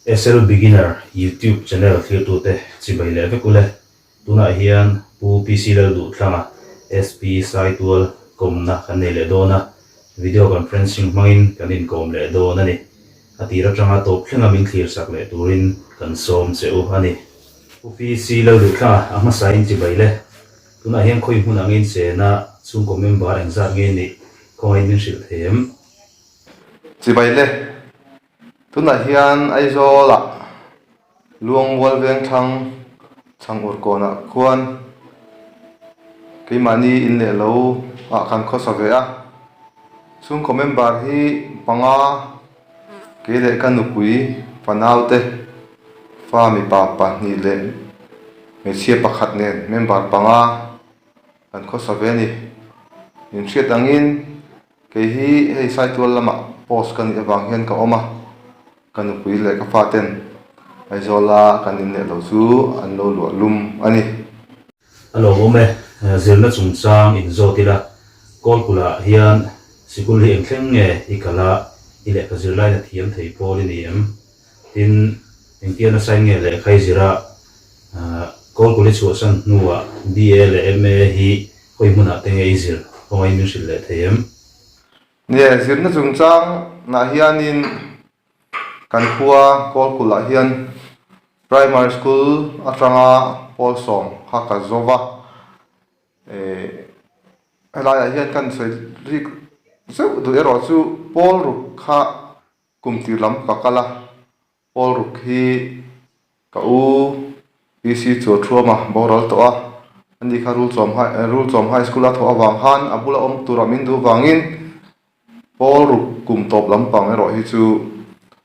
SL Beginner YouTube channel thirtute chibai leh vek ule, tunah hian Pu PC Lal Duhtlanga SP Saitual kawmna kan nei leh dawn a, video conferencing hmangin kan inkawm leh dawn a ni. A tir atanga tawp thlenga min thlir sak leh turin kan sawm che u a ni. Pu PC Lal Duhtlanga a hmasain chibai le, tunah hian khawi hmunah ngeiin chena chhungkaw member engzat ngei neih khawngaiin min hrilh thei em? Chibai le. Tunah hian Aizawla Luangmual Vengthlang chhang ur kawnah khuan keimahni in leh lo ah kan khawsa ve a. Chhungkaw member hi panga kei leh ka nupui pa naute, fa mipa pahnih leh hmeichhia pakhat nen member panga kan khawsa ve a ni. Inhriat angin. Kei hi hei Saitual lama post ka nih avang hian ka awm a, ka nupui leh ka faten Aizawla kan inneih loh chu an lo luah lum a ni. A lo awm e, zirna chungchang in zawt ila, Kawlpulah hian sikul hi eng thleng nge i kal a, i leh ka zirlaina thiam thei pawl i ni em? Tin, engtia na sign nge lehkhai zira kawlkuli chhuahsan hnuah BA leh MA hi hawi hmunah te nge i zir? Khawngaih in min hrilh leh thei em? Nge zirna chungchang nah hianin kan khua kawlkulah hian primary school atanga pawl sawm kha ka zawm a, helaiah hian kan sawi rih zeuh duh erawh chu pawl ruk kha Kum tirlam ka kal a, Paul ruk hi ka u PC chu a thuam a, boral tawh a, ani kha Rulchawm High eh Rulchawm High School a thawh avang khan a bula awm tura min duh vangin Paul ruk kum tawp lampang erawh hi chu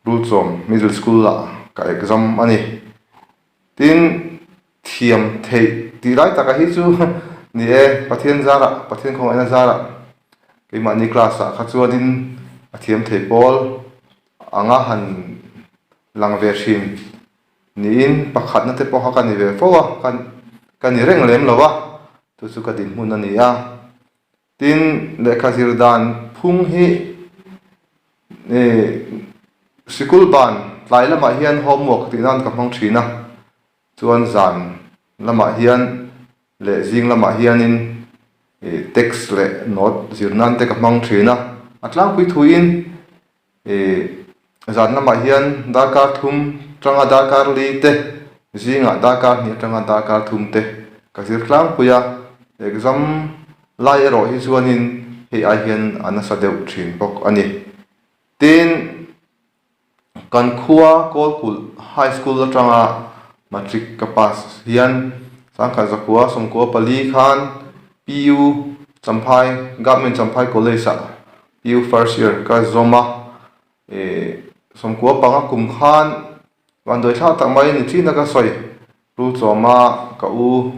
Rulchawm Middle School ah ka exam a ni. Tin. Thiam theih tih lai taka hi chu ni e, Pathian zarah, Pathian khawngaih na zarah keimahni class ah kha chuanin a thiam theih pawl anga han lang ve hrim niin pakhatna te pawh kha ka ni ve fo a, ka ni reng lem lo a, chu chu ka dinhmun a ni a. Tin, lehkha zir dan phung hi sikul ban tlai lamah hian homework tih nan ka hmang thin a, chuan zan lamah hian leh zing lamah hianin text leh note zir nan te ka hmang thin a. A tlangpui thuin Ih, zan lamah hian darkar thum tanga darkar li te, zingah darkar hnih atanga darkar thum te ka zir tlangpui a, exam lai erawh hi chuanin hei ai hian a nasa deuh thin bawk a ni. Tin, kan khua Kawlkulh High School atanga matric ka pass hian Sangkhat Zakhua sawmkua pali khan PU Champhai, Government Champhai College-ah Pu first year ka zawm a, ih sawmkua panga kum khan van duaithla tak mai ni thlin a ka sawi. Pu Tlawma ka u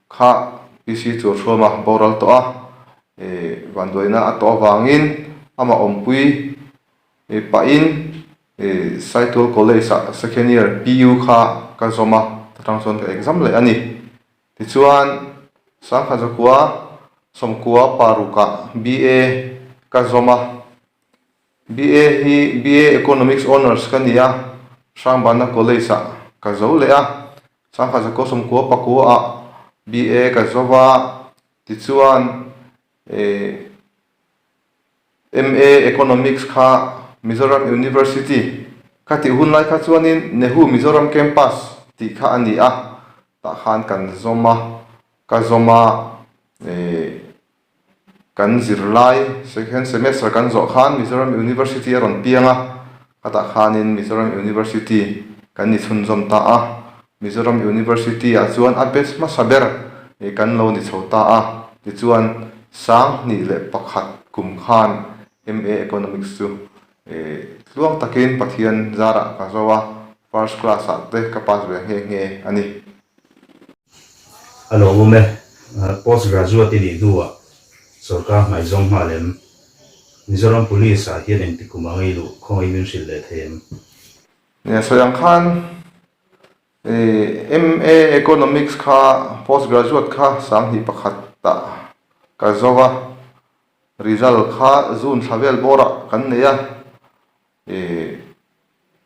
kha PC chu a hruam a, boral tawh a, ih vanduaina a tawh avangin amah awmpui ih pahin ih Saitual College-ah second year PU kha ka zawm a, chutang chuan ka exam leh a ni. Tichuan, Sangha Zakhua Sawmkua parukah BA ka zawm a. BA hi BA Economics Honours ka ni a, Hrangbanna College-ah ka zo leh a. Sangha Zakhua Sawmkua pakuaah BA ka zo va, tichuan, eh, MA Economics kha Mizoram University ka tih hun lai kha chuanin Nehu Mizoram Campus tih kha a ni a, tah khan kan zawm a, ka zawm a ihh kan zirlai second semester kan zawh khan Mizoram University a rawn piang a, Khata khanin Mizoram University kan ni chhunzawm ta a, Mizoram University ah chuan a batch hmasa ber hi kan lo ni chho ta a. Tichuan sang hnih leh pakhat kum khan MA Economics chu tluang takin Pathian zarah ka zo a, first class ah te ka pass ve nghe nghe a ni. A lo awm e, post graduate i nih hnuah sorkar hmai zawng nghal em? Mizoram Police ah hian engti kum a ngei luh khawngaih min hrilh leh thei em? Nia sawi ang khan i MA Economics kha post graduate kha sang hnih pakhat ah ka zo a, result kha June thla vel bawr ah kan nei a. Ih,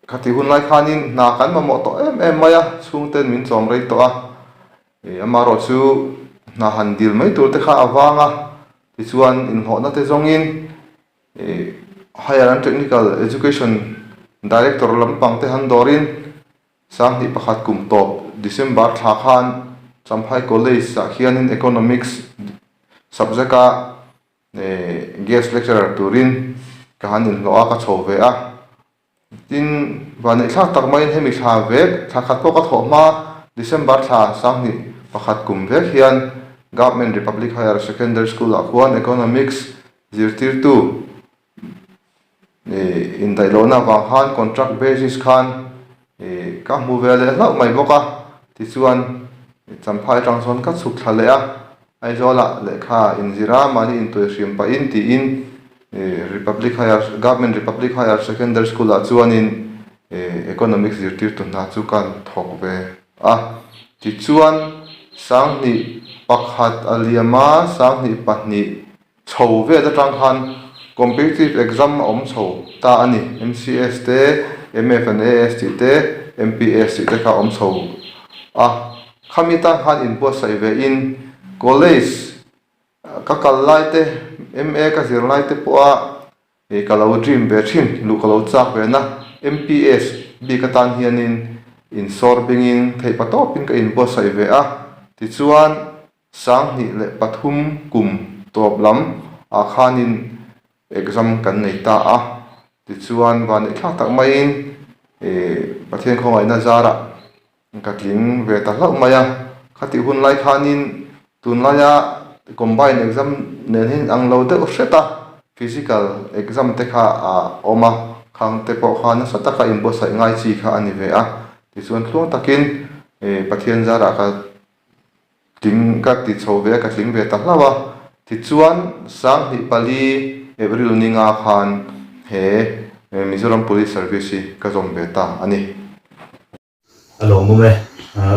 ka tih hunlai khanin hna kan mamawh tawh em em mai a, chhungten min chawm rei tawh a. Ih, amaherawh chu hna han dil mai tur te kha a vang a, tichuan inhlawhna te zawngin ih, Higher and Technical Education Director lampang te han dawrin sang hnih pakhat kum tawp December thla khan Champhai College ah khianin Economics subject a Guest lecturer turin ka han inhlawh a, ka chho ve a. Tin, vaneihthlak tak maiin hemi thla vek thla khat pawh ka thawh hma a, December thla sanghnih pakhat kum vek hian Government Republic Higher Secondary School ah khuan Economics zirtirtu Indaihlohna avang khan contract basis khan ka hmu ve leh hlauh mai bawk a, tichuan Champhai atang chuan ka chhuk thla leh a, Aizawla lehkha inzir a, mahni intuih hrim pah in tiin Republic Higher Government Republic Higher Secondary School ah chuanin Economics zirtirtu hna chu kan thawk ve a, tichuan sanghnih pakhat a liam a, sanghnih pahnih Chho vet atang khan Competitive Exam a awm chho ta a ni. MCS te, MFNAS tih te, MPS tih te kha a awm chho a. Khami tan khan inbuatsaih ve in College ka kal lai te, MA ka zir lai te pawha ih ka lo dream ve thin, luh ka lo chak ve na. MPS bik atan hian in insawr beng in theih pa tawp in ka inbuatsaih ve a. Tichuan Sanghnih leh pathum kum tawp lam ah khanin exam kan nei ta a, tichuan van leh thlak tak maiin Pathian khawngaihna zarah ka tling ve ta hlauh mai a, khatih hun lai khanin tunlaia combine exam nen hi an ang lo deuh hret a, physical exam te kha a awm a, khang te pawh kha nasa taka inbuatsaih ngai chi kha a ni ve a, tichuan thluang takin Pathian zarah ka Tling ka ti chho ve a, ka tling ve ta hlauh a. Tichuan, sanghnih pali April ninga khan he Mizoram Police Service hi ka zawm ve ta a ni. A lawmawm e,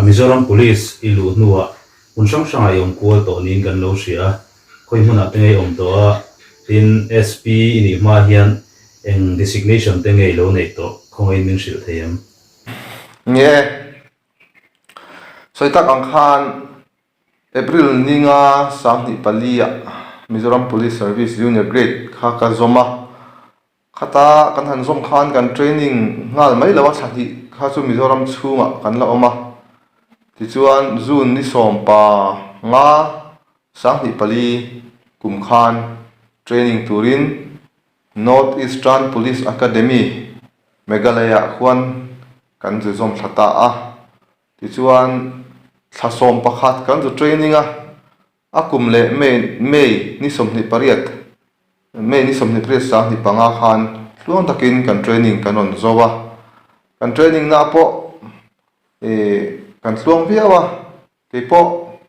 Mizoram Police i luh hnuah hmun hrang hrangah i awm kual tawh niin kan lo hria a, khawi hmunah te nge i awm tawh a, tin SP i nih hma hian eng designation te nge i lo neih tawh, khawngain min hrilh thei em? Nge Sawi tak ang khan April ninga sanghnih palia Mizoram Police Service Junior Grade kha ka zawm a, khata kan han zawm khan kan training nghal mai lo a tha hnih kha chu Mizoram chhungah kan la awm a, tichuan June ni sawm pa nga sanghnih pali kum khan training turin North Eastern Police Academy Meghalaya ah khuan Kan zui zawm thla ta a, tichuan thla sawm pakhat kan zu training a, a kum leh May May ni sawmhnih pariat May ni sawmhnih pariat sanghnih panga khan tluang takin kan training kan rawn zo a, kan training na pawh ih kan tluang viau a. Kei pawh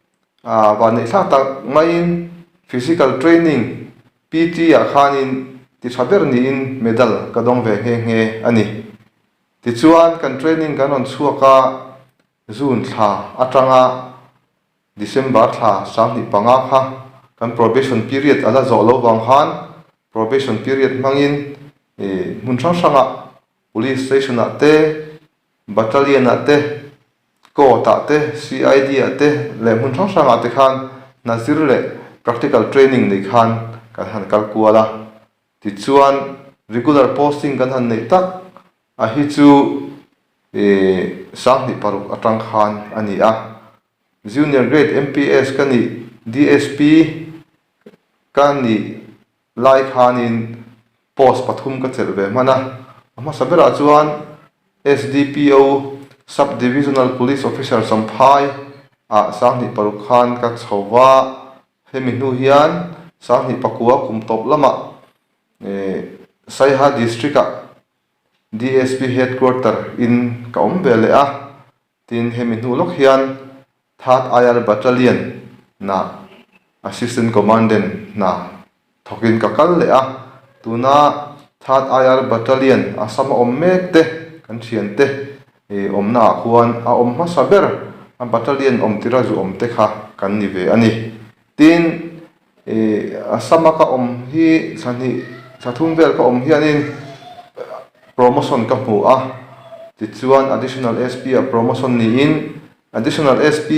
ah van neih thlak tak maiin physical training, PT, ah khanin ti tha ber niin medal ka dawng ve nghe nghe a ni. Tichuan kan training kan rawn chhuak a, June thla atanga December thla sanghnih panga kha kan probation period a la zawh lo vang khan probation period hmangin ih hmun hrang hrangah, Police station-ah te, Battalion-ah te, Court-ah te, CID-ah te leh hmun hrang hrangah te khan nazir leh practical training neih khan kan han kal kual a. Tichuan, regular posting kan han neih tak a hi chu ihh sanghnih paruk atang khan a ni a. Junior grade MPS ka nih, DSP ka nih. Lai khanin post pathum ka chelh ve hman a, a hmasa berah chuan SDPO Sub Divisional Police Officer Samphai ah sanghnih paruk khan ka chho a, hemi hnu hian sanghnih pakua kum tawp lamah Saiha District ah DSP Headquarter in ka awm ve leh a. Tin, hemi hnu lawk hian Third IR Battalion na Assistant Commandant hna thawkin ka kal leh a, tuna Third IR Battalion a sam a awm mek te kan thiante awmna ah khuan a awm hmasa ber a Battalion awm tira zu awm te kha kan ni ve a ni. Tin, i a sama ka awm hi thla hnih thla thum vel ka awm hianin promotion ka hmu a, tichuan Additional SP ah promotion niin Additional SP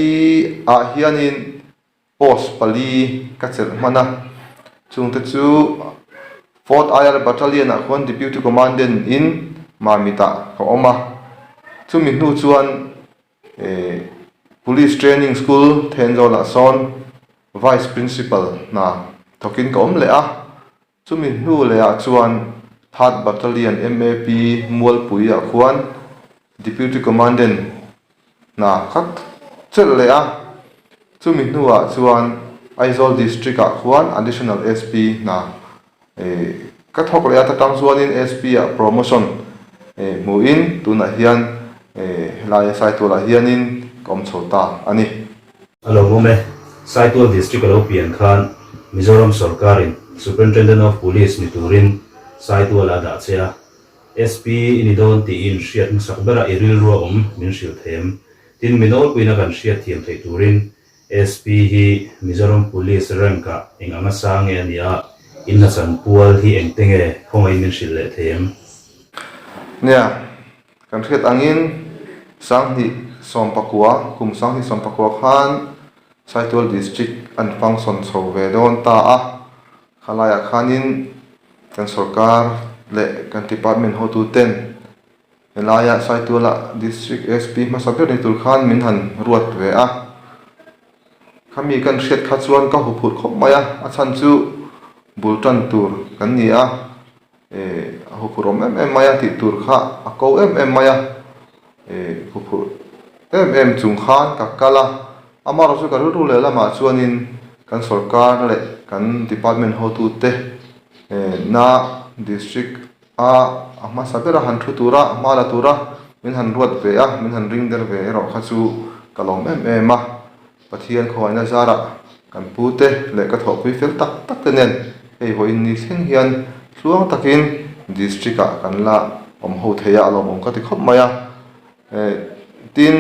ah hianin post pali ka chelh hman a, chung te chu Fourth IR Battalion ah khuan Deputy Commandant in Mamit ah ka awm a, chumi hnu chuan, Police Training School then zawnah sawn Vice Principal hna thawkin ka awm leh a. Chumi hnu lehah chuan Third Battalion MAP Mualpuiah khuan Deputy Commandant hna ka chelh leh a. Chumi hnuah chuan Aizawl District-ah khuan Additional SP hna Ka thawk leh a ta tang chuanin SP ah promotion hmuhin tunah hian helai a Saitualah hianin ka awm chho ta a ni. A lo awm e, Saitual District a lo pian khan Mizoram sawrkarin Superintendent of Police ni turin Saituala a dah che a, SP i ni dawn tih i inhriat hmasak bera i rilru a awm min hrilh thei em? Tin mi nawlpuina kan hriat thiam theih turin SP hi Mizoram Police rank ah eng anga sa nge a nia, in hla chan pual hi eng te nge khawngaiin min hrilh leh thei em? Nia, kan hriat angin Sanghnih Sawmpakua, kum Sanghnih Sawmpakua khan Saitual District a ni function chho ve dawn ta a, kha laiah khanin kan sorkar leh kan department hotu ten, Helaia Saituala District SP hmasa ber ni tur khan min han ruat ve a, khami kan hriat kha chuan ka huphurh khawp mai a, a chhan chu bul tan tur kan ni a, eh a huphurh awm em em mai a tih tur kha a ko em em mai a, eh huphurh em em chung khan ka kal a, amarawh chu ka rilru leh lamah chuanin kan sorkar leh kan department hotute eh na district A, a hmasa bera han thu tura, a hma la tura min han ruat ve a, min han ring der ve erawh kha chu ka lawm em em a. Pathian khawiahna zarah kan pu te leh ka thawhpui fel tak tak te nen hei vawiin ni thleng hian thluang takin District ah kan la awm ho theih a, a lawmawm ka ti khawp mai a. Eh, tin,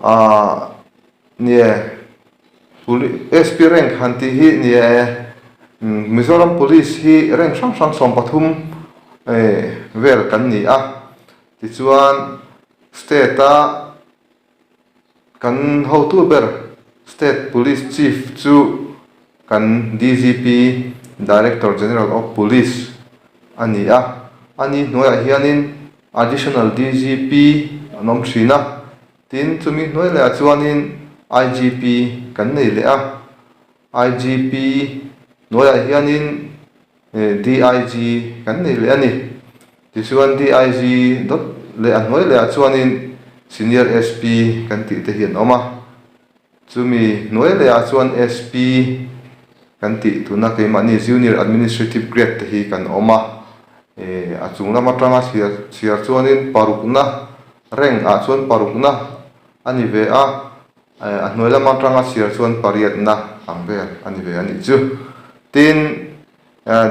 ah. Nia puli SP rank han tih hi nia e, Mizoram Police hi rank hrang hrang sawm pathum vel kan ni a, tichuan state a kan hotu ber state police chief chu kan DGP, Director General of Police, a ni a, ani hnuaiah hianin additional DGP an awm thin a. Tin, chumi hnuai leh ah chuanin IGP kan nei leh a. IGP hnuaiah hianin DIG kan nei leh a ni. Tichuan, DIG dawt leh a hnuai leh ah chuanin Senior SP kan tih te hi an awm a. Chumi hnuai lehah chuan SP kan tih tuna keimahni Junior Administrative Grade te hi kan awm a, a chung lam atanga chhiar chhiar chuanin parukna Rank ah chuan parukna a ni ve a, a hnuai lam atanga chhiar chuan pariatna ang vel a ni ve a nih chu. Tin,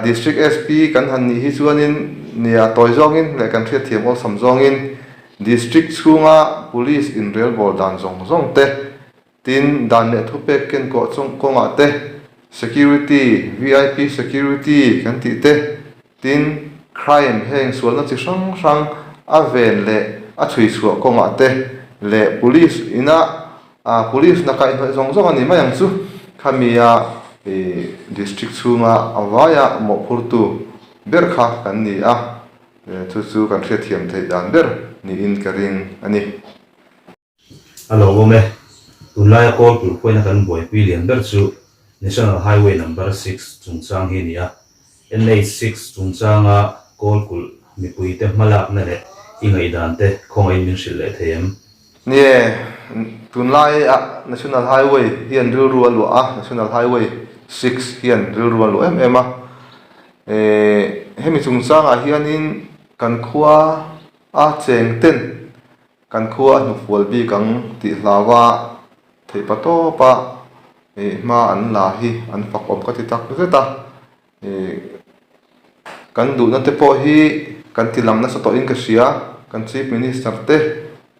District SP kan han nih hi chuanin ni a tawi zawngin leh kan hriatthiam awlsam zawngin District chhunga Police inrel bawr dan zawng zawng te, tin dan leh thupek ken kawh chung kawngah te, Security, VIP Security kan tih te, tin Crime heng sualna chi hrang hrang a ven leh a chhui chhuah kawngah te leh Police inah Aa police na kaihnawih zawng zawng a ni mai ang chu khamia ih district chhunga a vaia mawhphurtu ber kha kan ni a, chu chu kan hriatthiam theih dan ber niin ka ring a ni. A lo awm e, tunlaia kawl tur khawina kan buaipui lian ber chu National Highway number six chungchang hi a ni a, NH6 chungchanga kawlkulh mipuite hmalakna leh i ngaihdante khawngain min hrilh leh thei em? Nge, tunlaiah National Highway hian rilru a luah a, National Highway six hian rilru a luah em em a. Hemi chungchangah hianin kan khua a chengten Kan khua a hnufual bik ang tih hlau a, theih pa tawp a ih hma an la hi an fakawm ka ti tak zet a, ih kan duhna te pawh hi kan ti lang nasa tawhin ka hria, kan Chief Minister te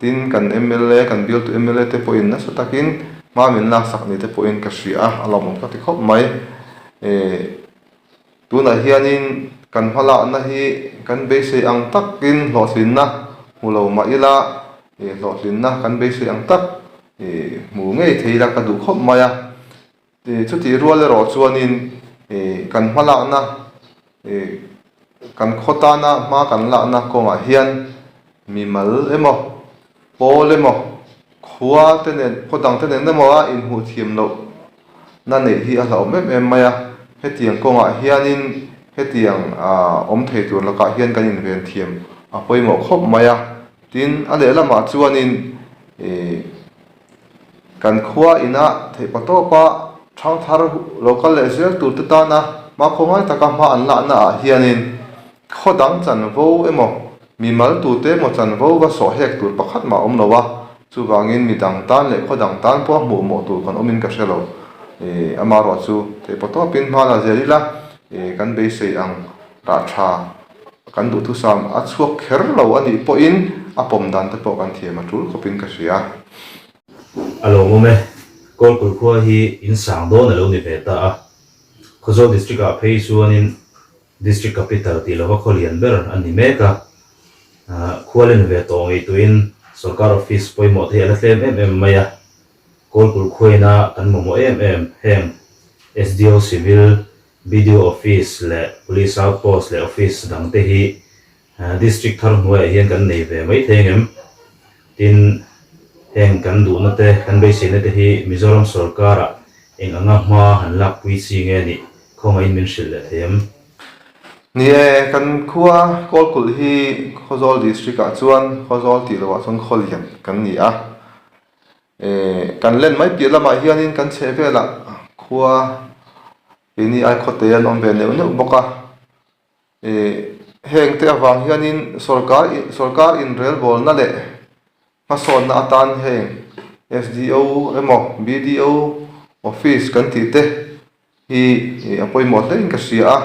tin kan mla kan bialtu mla te pawhin nasa takin hma min laksak ni te pawhin ka hria a, a lawmawm ka ti khawp mai, ih. Tunah hianin kan hmalakna hi kan beisei ang takin hlawhtlinna hmu lo mah ila, ih, hlawhtlinna kan beisei ang tak, ih, hmu ngei thei ila ka duh khawp mai a. Ih, chutih rual erawh chuanin, ih, kan hmalakna, ih, kan khaw tana hma kan lakna kawngah hian mimal emaw Pawl emaw, khua te nen, khaw dang te nen emaw a inhmuh thiam loh na neih hi a hlauhawm em em mai a, hetiang kawngah hianin hetiang awm thei tur lakah hian kan inven thiam a pawimawh khawp mai a, tin a lehlamah chuanin kan khua inah theihpa tawpa thang thar lo kal leh zel tur te tana hma khawngai taka hma an lahnaah hianin khaw dang chanvo emaw, Mi maltute maw chan vo va sawh hek tur pakhat mah awm lo a, chuvangin mi dang tan leh khaw dang tan pawh a hmuh mawh tur kan awmin ka hre lo. I, ama ruah chu theipaw tawpin hmana a ziah ila i, kan beisei ang rah tha kan duh thusam a chhuak kher lo a nih pawhin a pawm dan te pawh kan thiam a tul khawpin ka hria. A lo awm e, Kawlpui khua hi in sang dawn a lo ni ve ta a, Khawzawl District-ah phei chuanin District Capital tih lova khaw lian ber a ni mek a, khua len ve tawh ngei tuin sawrkar office pawimawhte hi a la tlem em em mai a, Kawlpul khuaina kan mamawh em em, heng SDO Civil, BDO Office leh Police Outpost leh Office dangte hi District thar hnuaiah hian kan nei ve maithei em? Tin, heng kan duhna te, kan beiseina te hi Mizoram sorkara eng anga hma han lakpui chi nge ni? Khawngahin min hrilh leh thei em? Ni e, kan khua Kawlkulh hi Khawzawl District ah chuan Khawzawl tih lohah chuan Khawlian kan ni a. Kan len mai piah lamah hianin kan chhehvelah khua keini ai khawtei an awm ve neuh neuh bawk a. Ih, heng te avang hianin sawrkar in, sawrkar inrelbawlna leh hmasawnna atan heng SDO emaw BDO office kan tih te hi ih a pawimawh hlein ka hria a,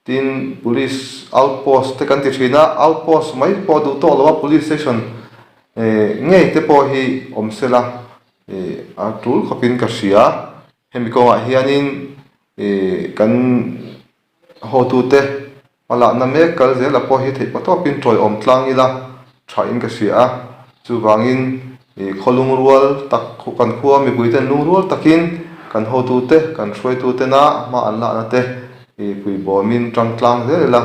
tin police outpost te kan ti thin a, outpost mai pawh duh tawh lo a police station ih ngei te pawh hi awm sela ih a tul khawpin ka hria. Hemi kawngah hianin ih kan A hotute, a lahna mek kal zela pawh hi theihpaw tawkin tawiawm tlang ila tha in ka hria a, chuvangin ih khaw lungrual tak kan khua mipui ten lungrual takin kan hotute, kan hruaitutena a hma an lahna te ih puibawmin tangtlang zel ila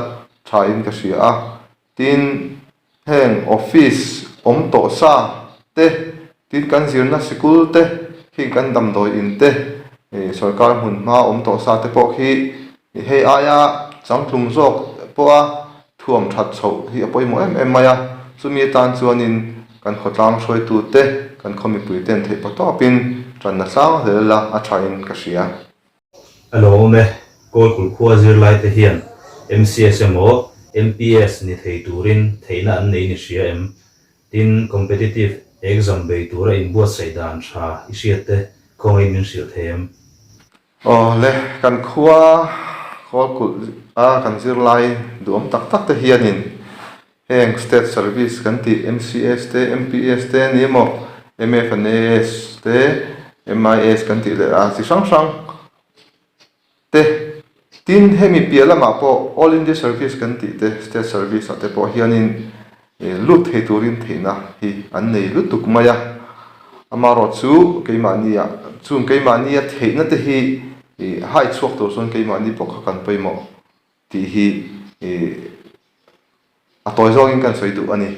tha in ka hria a. Tin, heng office awm tawh sa te, tin kan zirna sikul te khi kan damdawi in te, sorkar hmun hma awm tawh sa te pawh khi hei aia changtlung zawk pawha thuam that chhoh hi a pawimawh em em mai a. Chumi atan chuanin kan khawtlang hruaitu te, kan khaw mipuite'n theih paw tawpin tanna tlang hlel la a tha in ka hria. A lo awm e, Kawlpui khua zirlaite hian MCS emaw MPS ni thei turin theihna an nei ni hria em? Tin, competitive exam bei tura inbuatsaih dan tha i hriat te khawngain min hrilh thei em? Aw le, kan khua Kawlkulh a kan zirlai duhawm tak tak te hianin Heng State Service kan tih MCS te, MPS te ni emaw, MFNAS te, MIS kan tih leh a chi hrang hrang te. Tin, hemi piah lamah pawh All India Service kan tih te, State Service ah te pawh hianin ih lut thei turin theihna hi an nei lutuk mai a. Amarawh chu keimahniah chung keimahnia theihna te hi ih haichhuak tur sawn keimahni bawkha kan pawimawh. tih hi ih a tawi zawk in kan sawi duh a ni.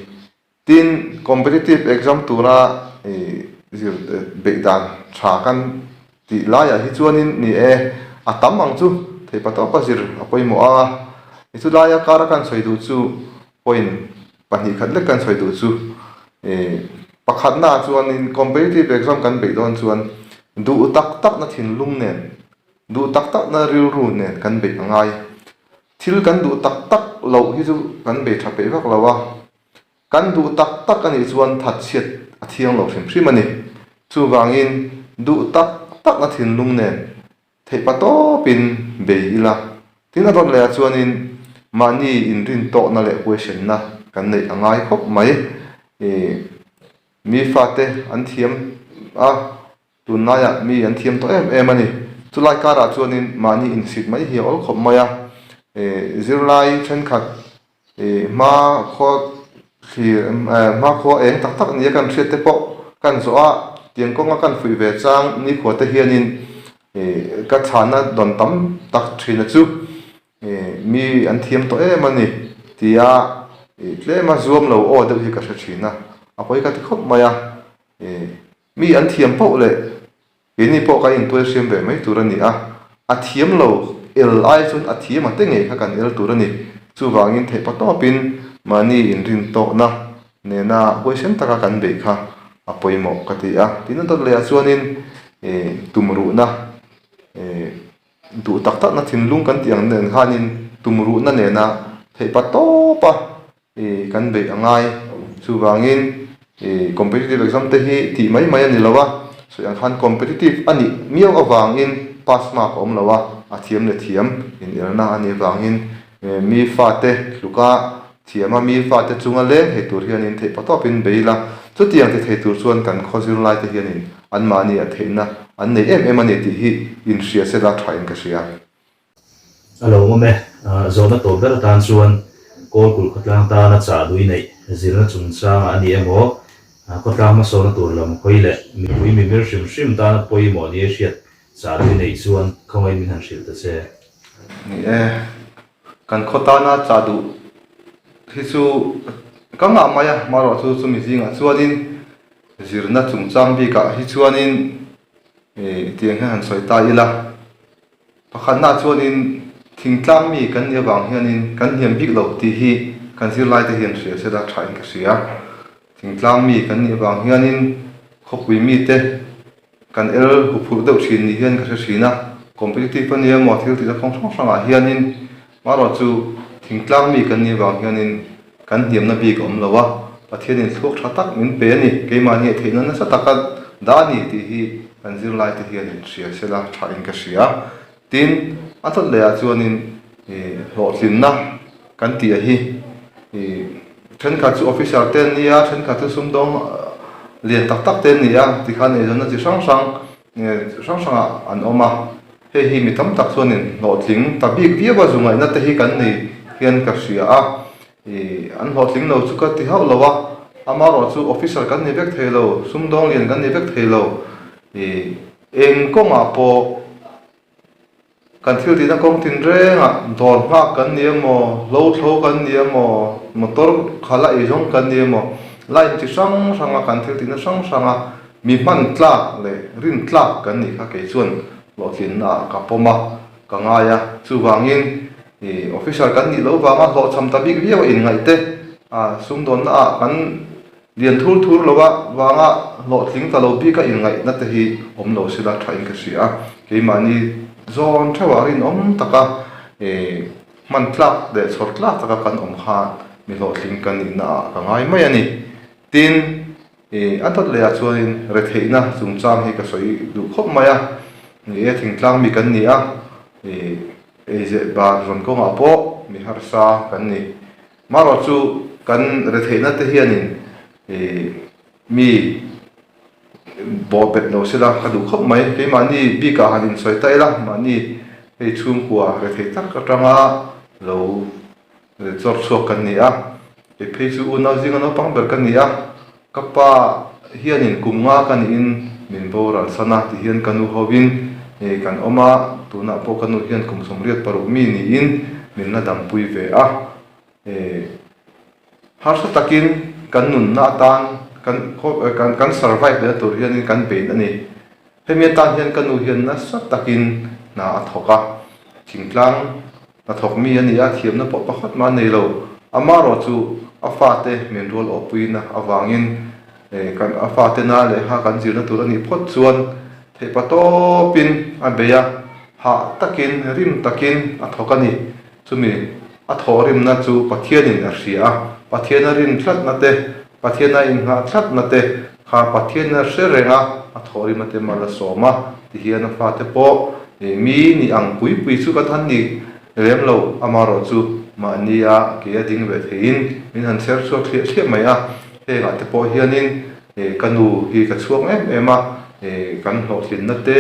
Tin, competitive exam tura ih zir eh beih dan tha kan tih lai ah hi chuan in ni e, a tam ang chu theipa tawp a zir a pawimawh a. Ih chu lai a kar a kan sawi duh chu point pahnih khat lek kan sawi duh chu ih pakhat na ah chuan in competitive exam kan beih dawn chuan duh tak tak na thinlung nen Duh tak takna rilru nen kan beih a ngai. Thil kan duh tak tak loh hi chu kan bei tha peih vak lo a. Kan duh tak tak a nih chuan that chhiat a thiang lo hrim hrim a ni. Chuvangin duh tak takna thinlung nen theih pa tawpin bei ila. Tin a rawn laiah chuanin mahni inrin tawhna leh huaihrenna kan neih a ngai khawp mai. Ih mi fate an thiam a, Tunlaiah mi an thiam tawh em em a ni. Chulai karah chuanin mahni insik mai hi a awl khawp mai a, zirlai thenkhat hma khua thlir hma khua eng tak tak nia kan hriatte pawh kan zawh a, tiang kawnga kan fuih ve chang nikhuate hianin ka chhana dawn tam tak thina chu mi an thiam tawh em a ni tia tlema zuam lo aw deuh hi ka hre thin a, a pawi ka ti khawp mai a. Mi an thiam poh leh in ni pawh ka intuai hriam ve mai tur a ni a, a thiam lo el ai chuan a thiam ate ngei kha kan el tur a ni. Chuvangin theih paw tawpin mahni inrin tawhna nena huaisen taka kan beih kha a pawimawh ka ti a. Tin a dawt leh ah chuanin tumruhna duh tak takna thinlung kan tih ang nen khanin tumruhna nena theih paw tawpa ih kan beih a ngai. Chuvangin ih competitive exam te hi tih mai mai a ni lo a, sawi ang khan competitive a nih miau avangin pass mark a awm lo a, a thiam leh thiam inelna a nih vangin mi fate hluka thiama mi fate chunga leng thei tur hianin theih patawp in bei ila, chuti ang ti thei tur chuan kan khaw zirlai te hianin anmahni a theihna an nei em em a ni tih hi inhria se la tha in ka hria. A lo awm e, zawhna tawp ber atan chuan Kawlkulh khawtlang tana chah lui neih zirna chungchanga a ni emaw, khawtlang hmasawna tur lam hawi leh mipui mimir hrim hrim tana pawimawh ni a hriat chah lui neih chuan khawngaiin min han hrilh ta che. Ni e, kan khaw tana chah duh hi chu ka nghah mai a, marawh chu chumi zingah chuanin zirna chungchang bikah hi chuanin tiang hian han sawi ta ila. Pakhatnaah chuanin, thing tlang mi kan nih avang hianin kan hniam bik lo tih hi kan zirlaite hian hria se la, tha in ka hria a. Thing tlang mi kan nih avang hianin khawpui mite kan el huphurh deuh thin nih hian ka hre thin a. Competitive ania emaw thil tihna kawng hrang hrangah hianin Mahrua chu thingtlang mi kan nih vang hianin kan hniamna bik a awm lo a, Pathianin thluak tha tak min pe a ni, keimahni a theihna nasa taka dah a ni tih hi kan zirlaite hian in hria sel a, tha in ka hria. Tin, a chawt lehah chuanin hlawhtlinna kan tihah hi thenkhat chu officer te an ni a, thenkhat chu sumdawng lian tak tak te an ni a, tikhan eizawnna chi hrang hrang, hrang hrangah an awm a hei hi mi tam tak chuanin hlawhtling ta bik viava zungaihna te hi kan nei hian ka hria a ih an hlawhtling lo chu ka ti hauh lo a amaherawhchu chu officer kan ni vek thei lo sumdawng lian kan ni vek thei lo ih eng kawngah pawh-- Kan thil tihna kawng tinrengah dawr nghak kan ni emaw, hlawthlo kan ni emaw, motor kha la ei zawng kan ni emaw, line chi hrang hranga kan thil tihna hrang hranga mi hman tlak leh rin tlak kan nih kha kei chuan hlawhtlinnaah ka pawm a, ka ngai a. Chuvangin ih officer kan nih lo vanga hlawhchham ta bik viau a inngaihte a sumdawnnaah kan Lian thur thur lo a, vanga hlawhtling ta lo bika inngaihna te hi awm lo si la thain ka hria a, keimahni zawn theuhah rinawm taka hman tlak leh chhawr tlak taka kan awm khan mi hlawhtling kan nihna ah ka ngai mai a ni. Tin, a dawt leh ah chuanin retheihna chungchang hi ka sawi duh khawp mai a, ni e, thingtlang mi kan ni a, eizeh ban rawn kawngah pawh mi harsa kan ni. Marawh chu kan retheihna te hianin mi bawh bet lo se la, ka duh khawp mai. Keimahni bikah han insawi ta ila, mahni hei chhungkua rethei tak atanga lo chawr chhuak kan ni a. Keiphei chu unau zinga naupang ber ka ni a. Ka pa hianin kum nga ka nihin min boral san a ti hian ka nu hovin ngei kan awm a, tunah pawh ka nu hian kum sawmriat paruk mi niin min la dampui ve a. Harsa takin kan nunna atan kan kan survive leh na tur hianin kan bein a ni. Hemi atan hian ka nu hian nasa takin hna a thawk a, thingtlang Hna thawk mi a ni a, thiamna pawh pakhat mah an nei lo. Amarawh chu a fate min rual awpuina avangin kan a fate na leh ha kan zirna tur a nih phawt chuan theihpa tawpin a bei a, hah takin rim takin a thawk a ni. Chumi a thawh rimna chu Pathianin a hria a, Pathiana rim tlatna te, Pathiana inngah tlatna te, Kha Pathian a hre reng a, a thawhrim ate mal a sawm a ti hian a fate pawh mi ni ang pui pui chu ka than ni lem lo, ama rawh chu mahni a a ke a ding ve thei in min han chher chhuak thliah thliah mai a, heng ah te pawh hian in ka nu hi ka chhuak em em a, kan hlawhthlin na te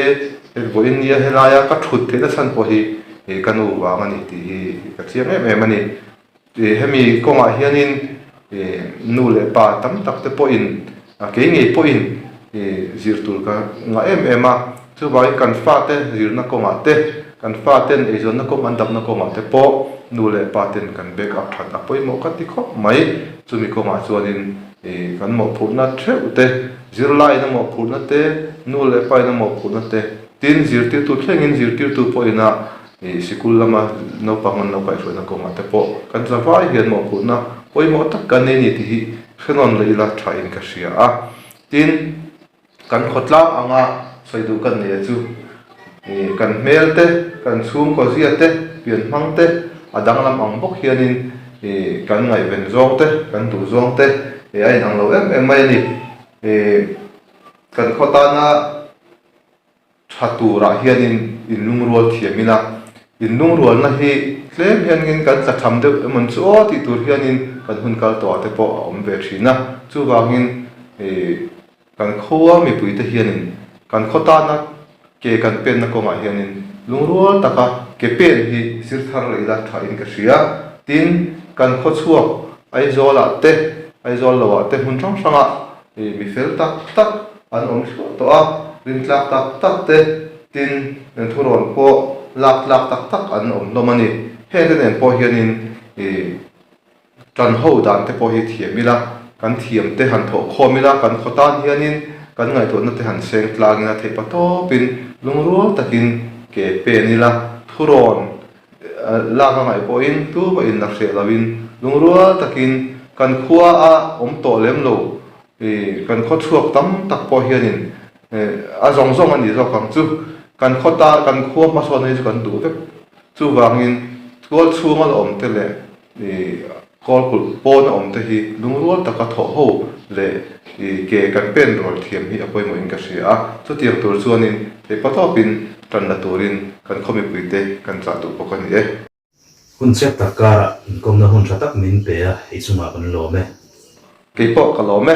hek vuah in nia helai a ka thut theih na chhan pawh hi ka nu vang a ni tih hi ka chiang em em a ni. Hemi kawngah hianin nu leh pa tam tak te pawhin kei ngei pawhin zir tur ka ngah em em a. Chuvangin kan fate zirna kawngah te, kan faten eizawnna kawng an dapna kawngah te pawh nu leh pa ten kan back up that a pawimawh ka ti khawp mai. Chumi kawngah chuanin kan mawhphurhna theuh te, zirlaina mawhphurhna te, nu leh pa ina mawhphurhna te, tin zirtirtu thlengin zirtirtu pawhina, Ih sikul lama naupang an lo kaihhruaina kawngah te pawh kan za vai hian maw putna pawimawh tak kan nei ni tih hi hrenawn leh ila tha in ka hria a. Tin, kan khawtlang anga sawi duh kan nei a chu. Ih kan hmel te, kan chhungkaw zia te, pian hmang te a danglam ang bawk hianin ih kan ngaihven zawng te, kan duh zawng te ih a inang lo em em mai a ni. Ih kan khaw tana. Tha turah hianin in lungrual thiam ila, in lungrualna hi tlem hianin kan tla tham deuh em awm chu aw tih tur hianin kan hun kal tawh ah te pawh a awm ve thin a, chuvangin kan khua mipui te hianin kan khaw tana ke kan penna kawngah hianin lungrual taka ke pen hi i zir thar rih ila tha in ka hria, tin kan khaw chhuak Aizawlah te, Aizawl lo ah te hmun hrang hrangah mi fel tak tak an awm thluah tawh a, rintlak tak tak te, tin, thurawn pawh lak tlak tak tak an awm hlawm a ni. Hete nen pawh hianin ih ṭan ho dan te pawh hi thiam ila, kan thiam te han thawh khawm ila, kan khaw tan hianin kan ngaihtuahna te han seng tlangin a theihpa tawpin lungrual takin ke pen ila, thurawn lak a ngaih pawhin tluma inla hreh loin lungrual takin kan khua a awm tawh lem lo Kan khawchhuak tam tak pawh hianin a zawng zawng a nih zawk ang chu. Kan khaw ta, kan khua hmasawnna hi chu kan duh vek. Chuvangin tual chhunga la awm te leh kawl kulh pawna awm te hi lungrual taka thawh ho leh ke kan pen rual thiam hi a pawimawhin ka hria a. Chutiang tur chuanin theihpatawpin tan la turin kan khaw mipuite kan chah duh bawk a ni e. Hun chep tak karah inkawmna hun tha tak min pe a, i chungah kan lawm e. Kei pawh ka lawm e.